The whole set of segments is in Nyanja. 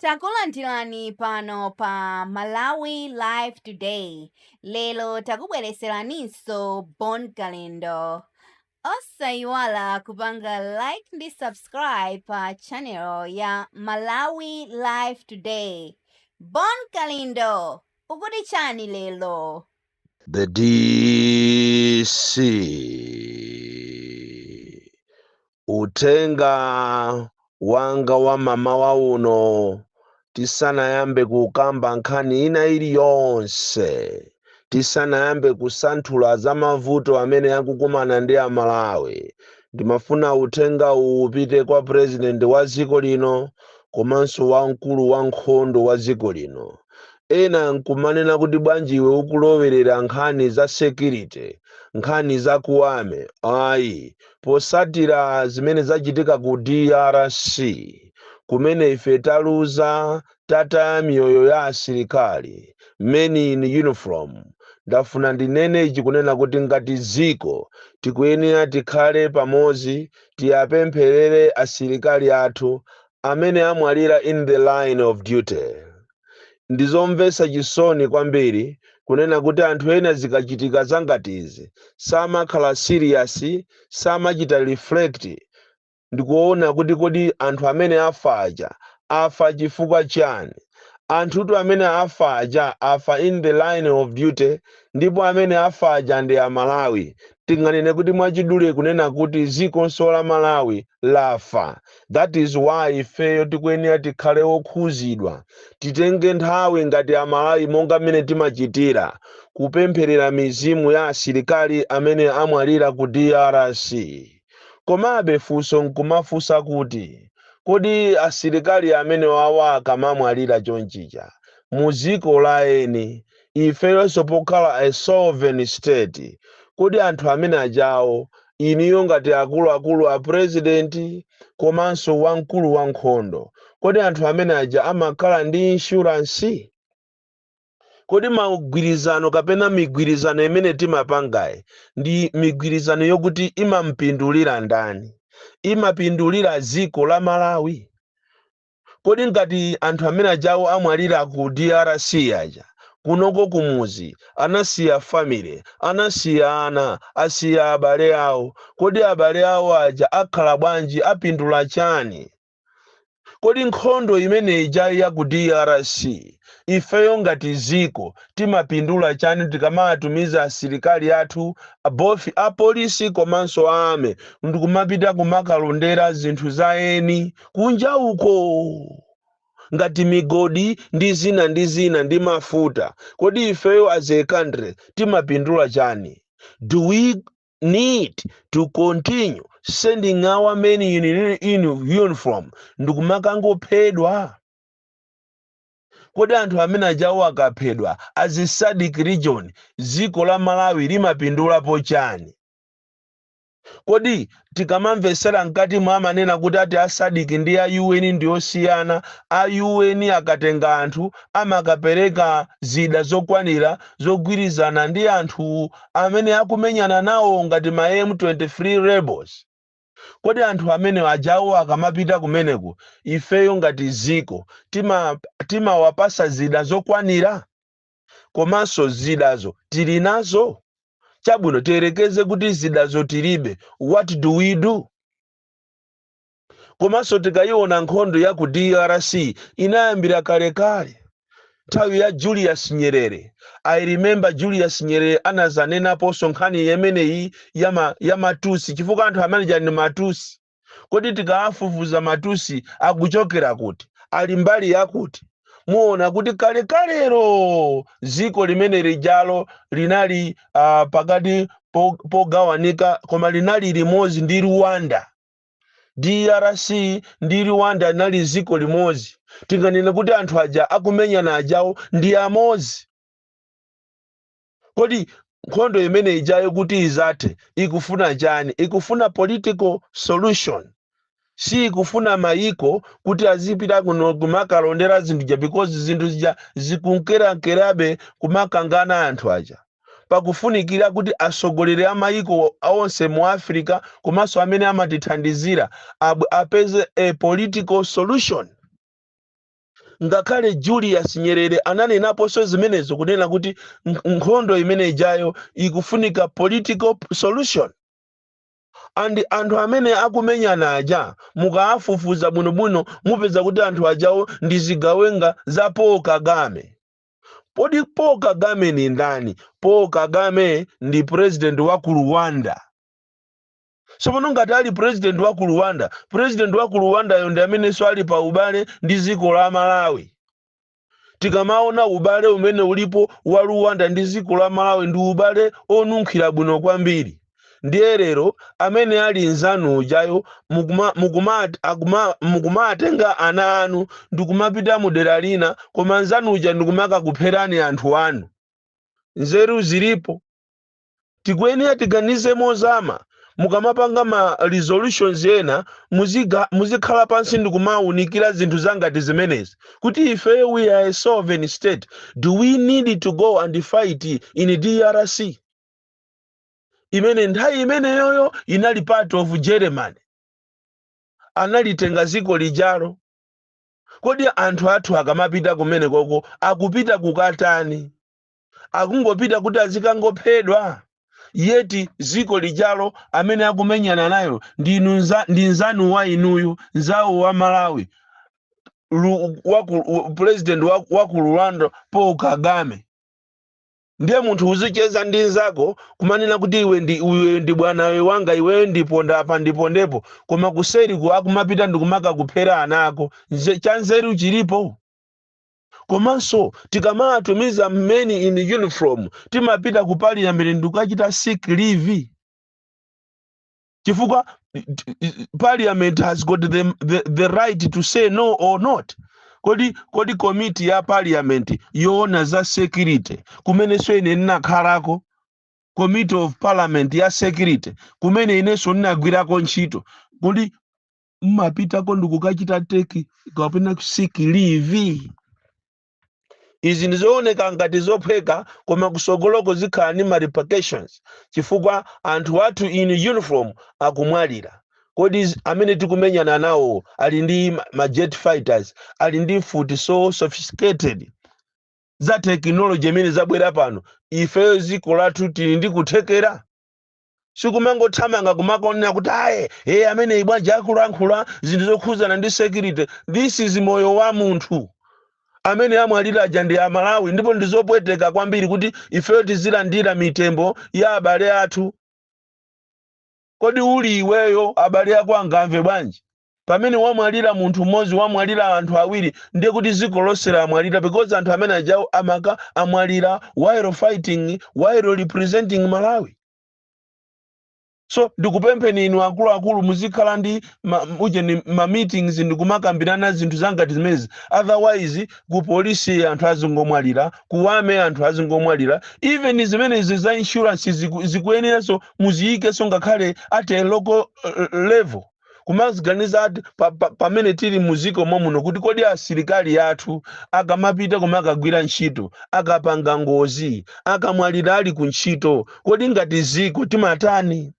takulandirani pano pa malawi live today lero takubwereseraninso bon kalindo osayiwala kupanga like ndi subscribe pa channel ya malawi live today bon kalindo akuti chani lero The DC. Uthenga wanga wa mamawa uno tisanayambe kukamba nkhani ina iliyonse tisanayambe kusanthula za mavuto amene akukumana ndi amalawi ndimafuna uthenga uwu upite kwa president wa dziko lino komanso wamkulu wa nkhondo wa dziko lino ena nkumanena kuti bwanji iwe ukulowerera nkhani za security nkhani za ku army ayi potsatira zimene zachitika ku drc kumene ife taluza tataya miyoyo ya asilikali men in uniform ndafuna ndinene ichi kunena kuti ngati dziko tikuyenera tikhale pamodzi tiwapempherere asilikali athu amene amwalira in the line of duty. Ndi zomvetsa chisoni kwambiri kunena kuti anthu ena zikachitika zangati izi samakhala serious, samachita reflect ndikuona kuti kodi anthu amene afa aja afa chifukwa chani? Anthutu amene afa aja afa in the line of duty ndipo amene afa aja ndi a Malawi tinganene kuti mwachidule kunena kuti dzikonso la malawi lafa that is why ifeyo tikuyenera tikhale okhuzidwa titenge nthawi ngati amalawi monga mmene timachitira kupempherera mizimu ya asilikali amene amwalira ku drc komabe funso nkumafunsa kuti kodi asilikali amenewawa akamamwalira chonchija mu dziko la eni ifeyonso pokhala a sovereign state kodi anthu amene ajawo inuyo ngati akuluakulu a president komanso wamkulu wa nkhondo kodi anthu amene aja amakhala ndi insurance? Kodi magwirizano kapena migwirizano imene timapangayi ndi migwirizano yokuti imamupindulira ndani? Imapindulira dziko la Malawi? kodi ngati anthu amene ajawo amwalira ku drc aja kunoko kumuzi anasiya family anasiya ana asiya abale awo kodi abale awo aja akhala bwanji apindula chani kodi nkhondo imene ija ya ku drc ifeyo ngati dziko timapindula chani tikamatumiza asilikali athu both apolisi komanso a army ndikumapita kumakalondera zinthu za eni kunja uko ngati migodi ndi zina ndi zina ndi mafuta kodi ifeyo as a country timapindula chani do we need to continue sending our men in, in uniform ndikumakangophedwa kodi anthu amene ajawo akaphedwa as a SADC region dziko la malawi limapindulapo chani Kodi tikamamvesela mkatimo amanena kuti ati a Sadic ndi a UN ndiosiyana, a UN akatenga anthu amakapeleka zida zokwanila zogwilizana ndi anthu amene akumenyana nawo ngati ma M23 rebels. Kodi anthu amene ajawo akamapita kumeneko ifeyo ngati dziko timawapasa zida zokwanila? komanso zidazo tili nazo chabwino tiyerekeze kuti zidazo tilibe what do we do komanso tikayiona nkhondo ya ku drc inayambira kalekale nthawi ya julius nyerere i remember julius nyerere anazanenaponso nkhani imeneyi ya ma- ya matusi chifukwa anthu amene aja ndi matusi Kodi tikawafufuza matusi akuchokera kuti? Ali mbali yakuti? Muona kuti kalekalelo dziko limene lijalo linali uh, pakati pogawanika koma linali limodzi ndi Rwanda. DRC ndi Rwanda linali dziko limodzi. Tinganene kuti anthu aja akumenyana ajawo ndi amodzi. Kodi nkhondo imene ijayo kuti izathe ikufuna chani? Ikufuna political solution. Siikufuna mayiko kuti azipita kuno kumakalondera zinthu zija because zinthu zija zikunkerankerabe kumakangana anthu aja. Pakufunikira kuti atsogoleri a mayiko onse mu Africa komanso amene amatithandizira abwere apeze a political solution. ngakhale julius nyerere ananenaponso zimenezo kunena kuti nk- nkhondo imene ijayo ikufunika political p- solution and anthu amene akumenyana aja mukaafufuza bwinobwino mupeza kuti anthu ajawo ndi zigawenga za paul kagame Kodi Paul Kagame ni ndani? Paul Kagame ndi president wa ku Rwanda. so pano ngati ali president wa ku rwanda president wa ku rwandayo ndi amenenso ali pa ubale ndi dziko la malawi tikamaona ubale umene ulipo wa rwanda ndi dziko la malawi ndi ubale onunkhira bwino kwambiri ndiye lero amene ali nzanu ujayo mukuma- mukuma- akuma- mukumatenga ana anu ndikumapita mu dera lina koma nzanu uja ndikumakakupherani anthu anu nzeru zilipo tikuyenera tiganize mozama mukamapanga ma resolutions ena muziga- muzikhala pansi ndi kumawunikira zinthu zangati zimenezi kuti ife we are a sovereign state do we need to go and fight in drc imene nthawi imeneyoyo inali part of germany analitenga dziko lijalo kodi anthu athu akamapita kumenekoko akupita kukatani akungopita kuti azikangophedwa yeti ziko lijalo amene akumenyana nayo ndi inu nza- ndi nzanu wa inuyu nzawo wa malawi Lu- wa ku- u- president wa wa ku rwanda paul kagame ndiye munthu uzicheza ndi nzako kumanena kuti iwe ndi iwe ndi bwana wewanga iweyo ndiponda apa ndipondepo koma kuseriku akumapita ndi kumakakuphera ana ako Nze- chanzeru chilipo komanso tikamatumiza men in uniform timapita ku parliament ndikukachita seek leave chifukwa parliament has got the, the, the right to say no or not kodi kodi komiti ya parliament yoona za security kumenenso ine ndinakhalako committee of parliament ya security kumene inenso ndinagwirako ntchito kuti mmapitako ndikukachita take kapena ku seek leave izi ndizooneka ngati zophweka koma kusogoloko zikhala ndi ma repercussions chifukwa anthu athu in uniform akumwalira kodi z- amene tikumenyana nawo ali ndi ma ma jet fighters ali ndi mfuti so sophisticated za tekinoloji imene zabwera pano ifeyo dziko lathu tili ndi kuthekera sikumangothamanga kumangonena kuti aye e ameneyi bwanji akulankhula zinthu zokhudzana ndi security this is moyo wa munthu amene amwalira aja ndi amalawi ndipo ndi zopweteka kwambiri kuti ifeyo tizilandira mitembo ya abale athu kodi uli iweyo abale ako angamve bwanji Pamene wamwalira munthu mmodzi wamwalira anthu awiri ndiye kuti ziko lonse lamwalira because anthu amene ajawo amakamwalira while fighting while representing Malawi. So ndikupempheni inu akuluakulu muzikhala ndi ma, ujeni ma meetings ndikumakambirana zinthu zangati zimenezi otherwise ku polisi anthu azingomwalira ku army anthu azingomwalira even zimenezi za insurance ziku, zikuyeneranso muziyikenso ngakhale at a local eh, level kumaziganiza ati pa- pa- pamene tili muziko mommuno kuti kodi asilikali athu akamapita kumakagwira ntchito akapanga ngozi akamwalira ali ku ntchito kodi ngati ziko timatani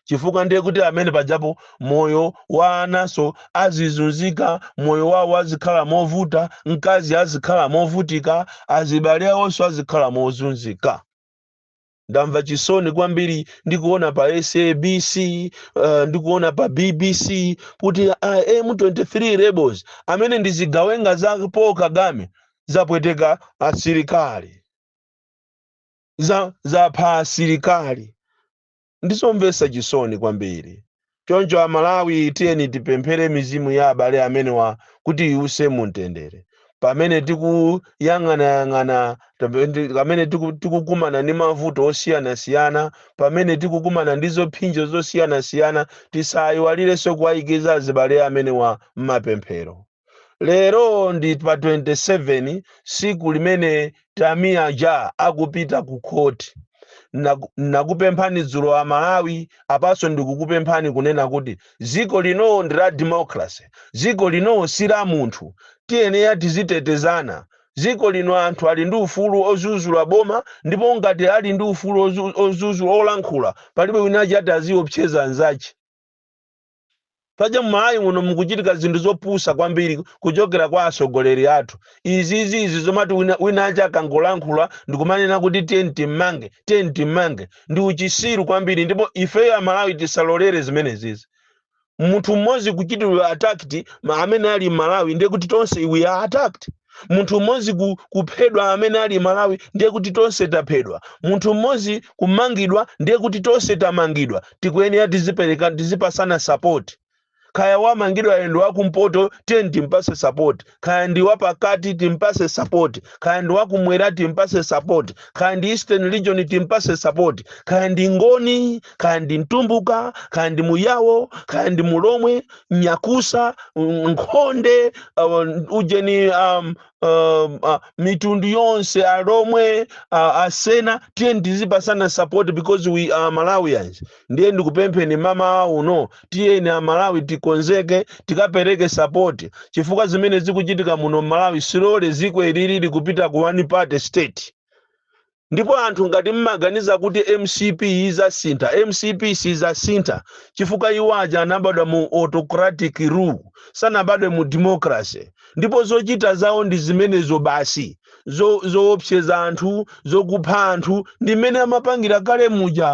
chifukwa ndiye kuti amene pajapo moyo wa ananso azizunzika moyo wawo azikhala movuta mkazi azikhala movutika azibale awonso azikhala mozunzika ndamva chisoni kwambiri ndikuona pa sabc uh, ndikuona pa bbc kuti uh, m23 rebels amene ndi zigawenga za paul kagame zapweteka asilikali za zapha asilikali ndizomvesa chisoni kwambiri Choncho a Malawi tiyeni tipemphere mizimu ya abale amenewa kuti iwuse mu mtendere. Pamene tikuyang'anayang'ana, pamene tiku- tikukumana ndi mavuto osiyanasiyana, pamene tikukumana ndi zophinjo zosiyanasiyana, tisayiwalirenso kuwayikiza azibale amenewa m'mapemphero. lero ndi pa 27 siku limene tamiya ja akupita ku court Naku- nakupemphani dzulo a malawi apanso ndikukupemphani kunena kuti dziko lino ndi la democracy dziko lino si la munthu tiyenera tizitetezana dziko lino anthu ali ndi ufulu ozuzula boma ndipo ngati ali ndi ufulu ozu- ozuzula olankhula palibe wina aja ati aziopseza anzache paja mmalawi muno mukuchitika zinthu zopusa kwambiri kuchokera kwa atsogoleri athu izizi izi zomati wina, wina aja akangolankhula ndikumanena kuti tiyeni timmange tiyeni timmange ndi uchisiru kwambiri ndipo ifeyo amalawi tisalolere zimenezizi munthu mmodzi kuchitidwa attacked ma amene ali mmalawi ndiye kuti tonse we are attacked munthu mmodzi ku- kuphedwa amene ali mmalawi ndiye kuti tonse taphedwa munthu mmodzi kumangidwa ndiye kuti tonse tamangidwa tikuyenera tizipereka tizipasana sapoti kaya wamangidwayo ndi wakumpoto tiyeni timpase sapoti kaya ndi wapakati timpase sapoti kaya ndi wakumwera timpase sapoti kaya ndi eastern region timpase sapoti kaya ndi ngoni kaya ndi mtumbuka kaya ndi muyawo kaya ndi mulomwe nyakusa mm, nkhonde uh, ujeni um, um, uh, mitundu yonse alomwe uh, asena tiyeni tizipasana support because we are malawians ndiye ndikupempheni mamawa uno tiyeni amalawi tikonzeke tikapereke support chifukwa zimene zikuchitika muno malawi slowly ziko ilili likupita ku one party state Ndipo anthu ngati mmaganiza kuti mcp izasintha mcp sizasintha chifukwa iwo aja anabadwa mu autocratic rule sanabadwe mu democracy ndipo zochita zawo ndi zimenezo basi zo zowopseza anthu zokupha anthu ndi mmene amapangira kale muja.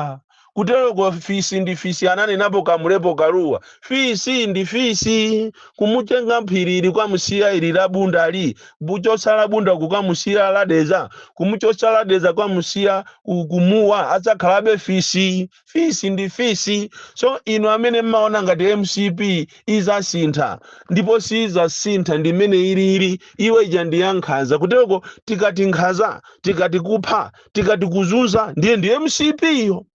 Kuteroko fisi ndi fisi ananenapo Kamlepo Kalua. Fisi ndi fisi. Kumutenga m'phirili kukamusiya ili la Bundali, kumuchotsa la Bunda kukamusiya la Dedza, kumuchotsa la Dedza kukamusiya ku, ku Mua adzakhalabe fisi. Fisi ndi fisi. So inu amene mmaona ngati mcp izasintha ndipo siizasintha ndi mmene ilili, iwe ija ndi ya nkhanza. Kuteroko tikati nkhanza, tikati kupha, tikati kuzunza ndiye ndi mcp iyo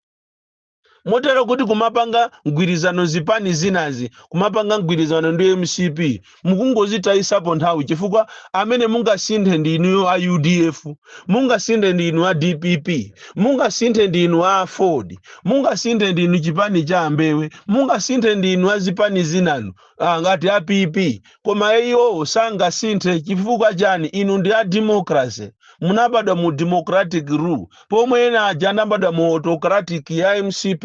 motero kuti kumapanga mgwirizano zipani zinazi kumapanga mgwirizano ndi mcp mukungozitayisapo nthawi chifukwa amene mungasinthe ndi inuyo a udf mungasinthe ndi inu a dpp mungasinthe ndi inu a aford mungasinthe ndi inu chipani cha ambewe mungasinthe ndi inu a zipani zinanu ah, ngati a pp Koma iwo sangasinthe chifukwa chani? Inu ndi a democracy. Munabadwa mu democratic rule pomwe ena aja anabadwa mu autocratic ya mcp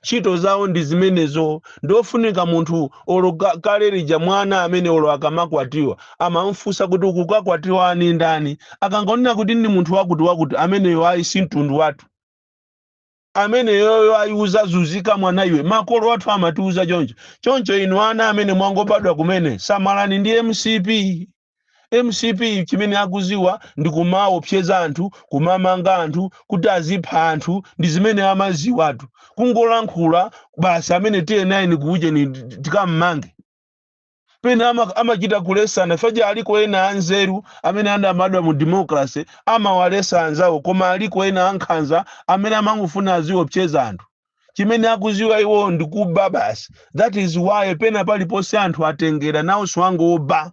ntchito zawo ndi zimenezo. Ndiofunika munthu olo kale lija mwana amene olo akamakwatiwa amamfunsa kuti ukukakwatiwa ndi ndani? Akangonena kuti ndi munthu wakuti wakuti ameneyo ayi si mtundu wathu. ameneyoyo ayi uzazuzika mwana iwe makolo athu amatiuza choncho choncho inu ana amene mwangobadwa kumene samalani ndi mcp mcp chimene akuziwa ndi kumaopseza anthu kumamanga anthu kuti azipha anthu ndi zimene amaziwatu kungolankhula basi amene ti eni eni kuujeni tikammange pena ama- amachita kulesana paja aliko ena anzeru amene anabadwa mu democracy amawalesa anzawo koma aliko ena ankhanza amene amangofuna aziopseza anthu chimene akuziwa iwo ndi kuba basi that is why pena paliponse anthu atengera nawonso angoba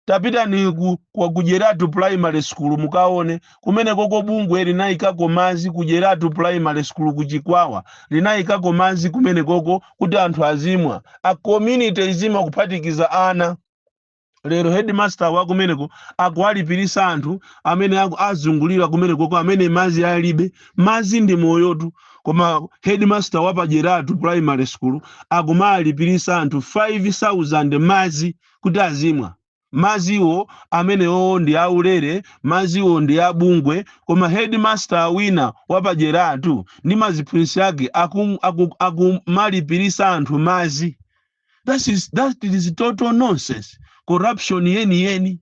tapitani ku, ku, ku Jeratu primary school mukaone kumenekoko bungwe linayikako madzi ku Jeratu primary school ku Chikwawa linayikako madzi kumenekoko kuti anthu azimwa a community izimwa kuphatikiza ana lero headmaster wa kumeneko akuwalipirisa anthu amene aku- azungulira kumenekoko amene madzi alibe madzi ndi moyotu koma headmaster wa pajeratu primary school akumalipirisa anthu 5000 madzi kuti azimwa madziwo, amenewowo ndi aulere, madziwo ndi a bungwe, koma headmaster wina wa pa Jeratu ndi ma ziphunzitsi ake akum, akum, akumalipiritsa anthu madzi. That is, that is total nonsense, corruption yeniyeni.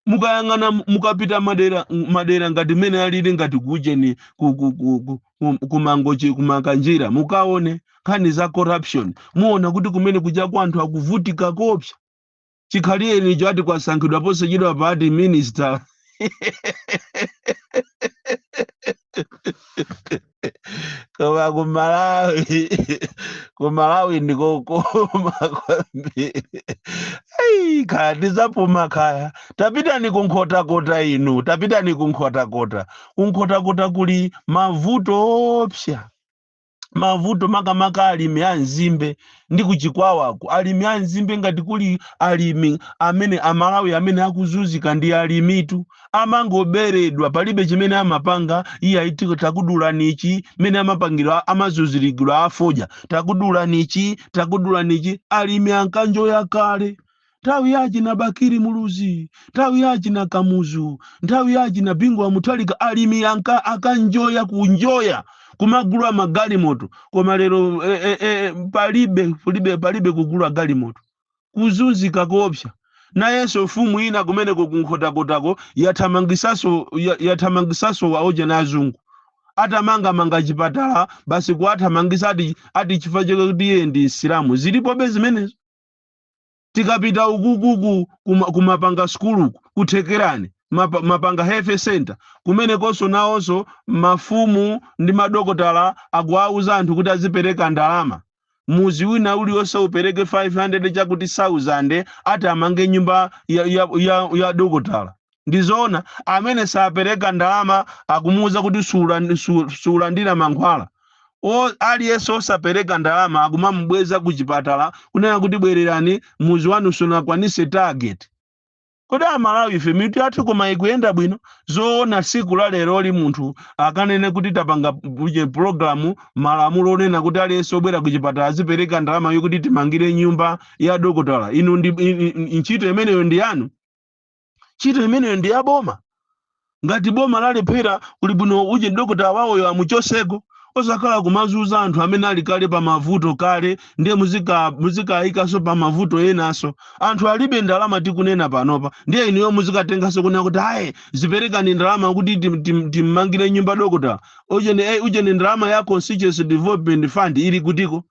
mukayang'ana mukapita madera madera ngati mmene alili ngati kuujeni ku, ku, ku, ku, ku, kumangochi kumakanjira mukaone nkhani za corruption muona kuti kumene kujako anthu akuvutika kopsa chikhalireni icho ati kwasankhidwa posachedwa pa ati minister koma ku malawi ku malawi ndikokoma kwambiri Ai, kaya tizapuma kaya tapitani ku nkhotakota inu tapitani ku nkhotakota ku nkhotakota kuli mavuto opsa mavuto makamaka alimi a nzimbe ndi ku Chikwawaku alimi a nzimbe ngati kuli alimi amene amalawi amene akuzunzika ndi alimitu amangoberedwa palibe chimene amapanga iye aitiko takudulani ichi mene amapangidwa amazunzirigidwa afodya takudulani ichi takudulani ichi alimi ankanjoya kale nthawi ya achina bakiri muluzi nthawi ya achina kamuzu nthawi ya achina bingu wa muthalika alimi ankanjoya kunjoya kumagula magalimoto koma lero eh, eh, eh, palibe palibe palibe kugula galimoto kuzunzika koopsa nayenso mfumu ina kumeneko kunkhotakotako yathamangisaso ya- yathamangisaso waoja na azungu atamangamanga chipatala basi kuwathamangisa ati ati chifukwa chakuti iye ndi msilamu zilipobe zimenezo tikapita ukuku ku- kuma- kumapanga sukulu ku Thekerani mapa- mapanga health center kumenekonso nawonso mafumu ndi madokotala akuwauza anthu kuti azipereka ndalama mudzi wina uliwonse upereke 500 chakuti 1000 ati amange nyumba ya, ya, ya, ya dokotala Ndi zoona, amene sapereka ndalama akumuuza kuti suulan- su- suulandira mankhwala. O, aliyense osapereka ndalama akumamubweza ku chipatala kunena kuti bwererani mudzi wanu sunakwanise target. Kodi amalawi ife mitu yathu koma ikuyenda bwino? Zoona tsiku la leroli munthu akanene kuti tapanga p- pulogalamu malamulo onena kuti aliyense obwera ku chipatala azipereka ndalama yokuti timmangire nyumba ya dokotala. Inu ndi i- i- i- ntchito imeneyo ndi yanu? ntchito imeneyo ndi yaboma ngati boma lalephera kuli bwino ujeni dokota wawoyo amuchotseko osakhala kumazunza anthu amene ali kale pa mavuto kale ndiye muzika muzikayikanso pa mavuto enanso anthu alibe ndalama tikunena panopa ndiye inuyo muzikatenganso kunena kuti ayi ziperekani ndalama kuti tim- tim- timmangire nyumba dokota ujeni eh, ujeni ndalama ya constituency development fund ili kutiko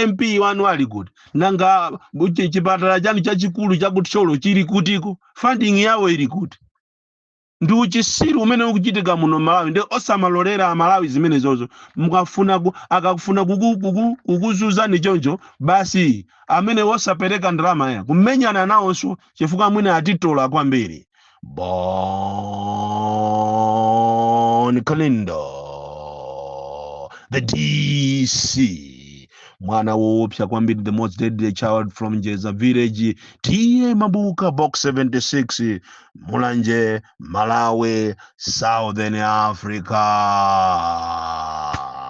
mp wanu ali kuti nanga bu- chi- chipatala chanu chachikulu chaku Thyolo chili kutiko funding yawo ili kuti ndi uchitsiru umene ukuchitika muno malawi nde osamalolera amalawi zimenezozo mukafuna ku, akafuna kuku- kuku- kukuzunzani choncho basi amene wosapereka ndalama ya kumenyana nawonso chifukwa amwene atitola kwambiri Bon Kalindo, the DC, mwana woopsa kwambiri, the most deadly child from Jeza village, TA Mabuka, box 76, Mulanje, Malawi, Southern Africa.